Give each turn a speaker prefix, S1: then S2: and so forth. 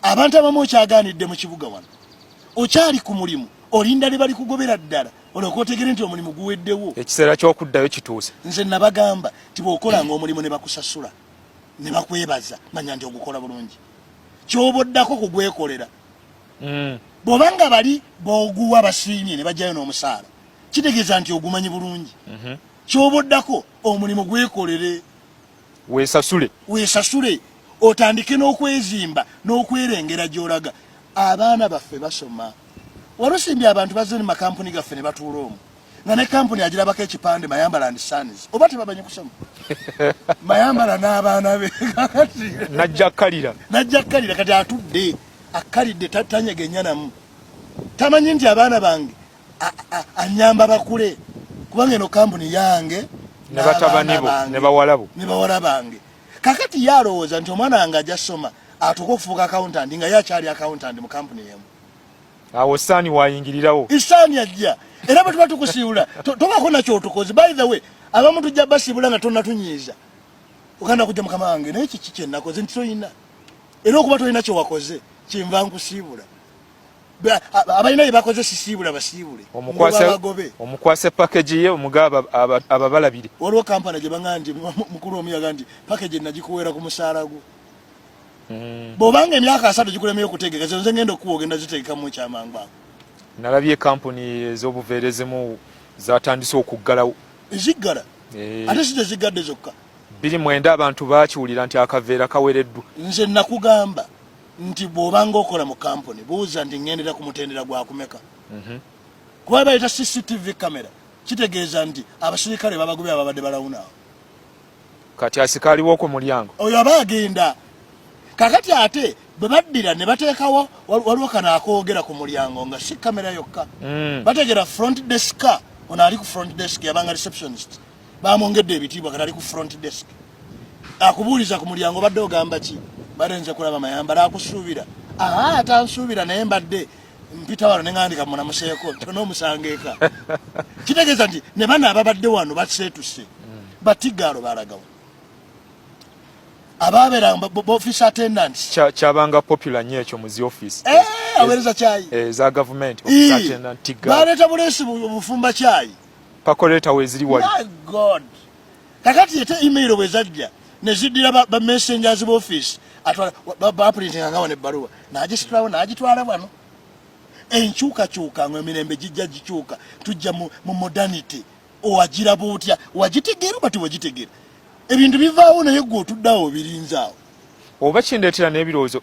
S1: abantu abamu okyagaanidde mu kibuga wano okyali ku mulimu olinda ne bali kugobera ddala olyoka otegere nti omulimu guweddewo ekiseera ky'okuddayo
S2: kituuse nze nabagamba
S1: nti bw'okolanga omulimu ne bakusasula ne bakwebaza manya nti ogukola bulungi kyoba oddako kugwekolera mm. bw'oba nga bali booguwa basiimye ne bajjayo n'omusaala kitegeeza nti ogumanyi bulungi mhm. kyoba oddako omulimu gwekolere wesasule wesasule otandike n'okwezimba n'okwerengera gy'olaga abaana baffe basoma walusimbi abantu bazze ne makampuni gaffe ne batuula omu nga ne kampuni agirabako ekipande mayambala and sons oba tebamanyi kusoma mayambala n'abaana be najja
S2: kkalira najja kkalira kati
S1: atudde akkalidde tanyega ennyanamu tamanyi nti abaana bange anyamba bakule kubanga eno kampuni yange ne batabani
S2: bo ne bawala bo ne bawala bange kakati yalowooza nti omwana wange ajja soma atuuka okufuuka accountant nga ye akyali accountant mu kampuni emu awo saani wayingirirawo isaani ajja
S1: era bwe tuba tukusiibula tobako nakyotukozi by the way abamu tujja basiibula nga tonatunyiiza oganda kujja mukama wange naye kiki kyenakoze nti tolina era okuba tolina kyewakoze kyenva nkusiibula abalina byebakoze sisiibula basiibule
S2: omukwase pakagi ye omugaba ababalabire waliwo kampala gye
S1: baŋa nti mukulu omu yaga nti pakagi nagikuweera ku musaala gwo hmm. bwobanga emyaka asatu gikulemye okutegeka zonze ngenda okukuwa ogenda zitegekamu ekyamangu ako nalabye ekampuni
S2: ezobuveera ezimu zatandise okuggalawo eziggala
S1: eh. ate si teziggadde zokka biri mwenda abantu
S2: bakiwulira nti akaveera kawereddwa nze nakugamba
S1: nti bw'obanga okola mu kampuni buuza nti ŋŋendera ku mutendera gwa kumeka mhm. kuba baleeta cctv kamera kitegeeza nti abasirikale babagobe ababadde balawunaawo
S2: kati asikaaliwo ku mulyango oyo aba agenda
S1: kakati ate bwe baddira ne bateekawo waliwo kano akoogera ku mulyango nga si kamera yokka mm. bateegera front deska ono ali ku front desk yabanga receptionist bamwongedde ebitiibwa kati ali ku front desk akubuuliza ku mulyango badde ogamba ki badde nze kulaba mayambala akusuubira aa atansuubira naye mbadde mpita wano neŋandika munamuseeko tona omusanga eka kitegeeza nti ne bana ababadde wano baseetuse batigaalo balagawo ababeera office attendant kyabanga popular
S2: nyo ekyo muzi office eh, awereza kyayi
S1: eza eh, gavumenti
S2: baleta buleesi
S1: bufumba kyayi pakoleta weziri
S2: wali god
S1: kakati ete email bwezajja neziddira ba, ba messengers ba office atwala baprintinga nga wano ebbaluwa nagisitulawo nagitwala wano enkyukakyuka nga emirembe gijja gikyuka tujja mu, mu modernity owagiraba otya wagitegeera oba tiwagitegeera ebintu bivaawo naye
S2: gwe
S1: otuddawo obirinzaawo oba kindeetera
S2: n'ebirowoozo